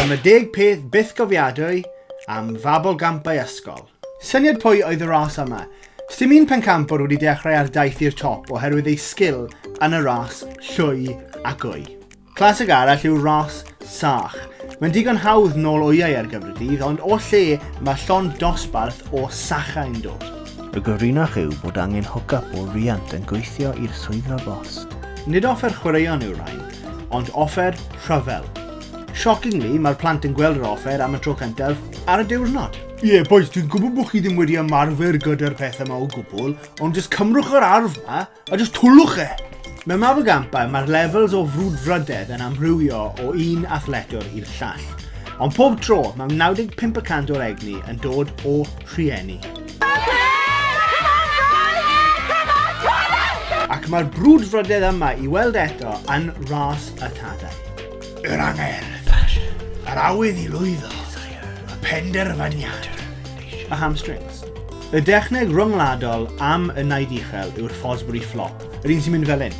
Ond mae deg peth byth gofiadwy am fabl gampau ysgol. Syniad pwy oedd y ras yma? Sdim un pencampwr wedi dechrau ar daith i'r top oherwydd ei sgil yn y ras llwy a gwy. Clasig arall yw ras sach. Mae'n digon hawdd nôl wyau ar gyfer y dydd ond o lle mae llond dosbarth o sachau'n dod? Y gorinach yw bod angen hwc-yp o riant yn gweithio i'r swyddfa bost. Nid offer chwaraeon yw'r rhain. ond offer rhyfel. Shockingly, mae'r plant yn gweld yr offer am y tro cyntaf ar y diwrnod. Ie, yeah, boys, dwi'n gwybod bod chi ddim wedi ymarfer gyda'r pethau yma o gwbl, ond jyst cymrwch yr arf yma a jyst twlwch e! Mewn mab y gampau, mae'r levels o frwdfrydedd yn amrywio o un athletwr i'r llall. Ond pob tro, mae 95% o'r egni yn dod o rhieni. Ac mae'r brwdfrydedd yma i weld eto yn Ras y Tadau. Yr angerdd, yr awydd i lwyddo, y penderfyniad, y hamstrings. Y dechneg ryngwladol am y naid uchel yw'r Fosbury Flop, yr un sy'n mynd fel hyn.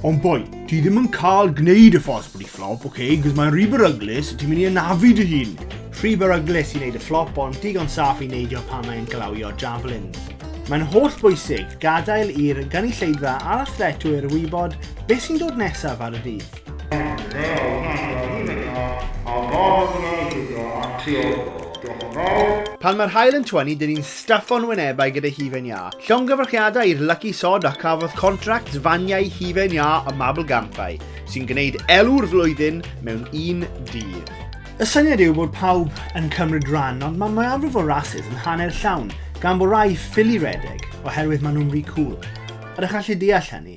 Ond boi, Ti ddim yn cael gwneud y ffos bod i fflop, oce, okay, cos mae'n rhy beryglus, ti'n mynd i anafu dy hun. Rhy beryglus i wneud y fflop, ond digon saff i neidio pan mae'n glawio javelins. Mae'n holl bwysig gadael i'r gynulleidfa a'r athletwyr wybod beth sy'n dod nesaf ar y dydd. Pan mae'r haul yn twyni, dyn ni'n staffo'n wynebau gyda hufen iâ, Llongyfarchiadau i'r Lucky Sod a cafodd contract faniau hufen iâ ym Mabelgampau, sy'n gwneud elw'r flwyddyn mewn un dydd. Y syniad yw bod pawb yn cymryd ran ond mae mwyafrif o rasys yn hanner llawn gan bod rai ffili redeg oherwydd maen nhw'n ry cŵl. Ydych chi'n gallu deall hynny?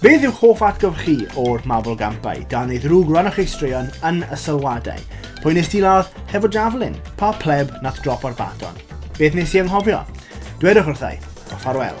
Beth yw'ch hoff atgof chi o'r Mabel Gampau? Dan ei ddrwg, rhannwch eich straeon yn y sylwadau. Pwy nes ti ladd hefo javelin? Pa pleb nath drop o'r baton? Beth nes i anghofio? Dwedwch wrthau. A ffarwel.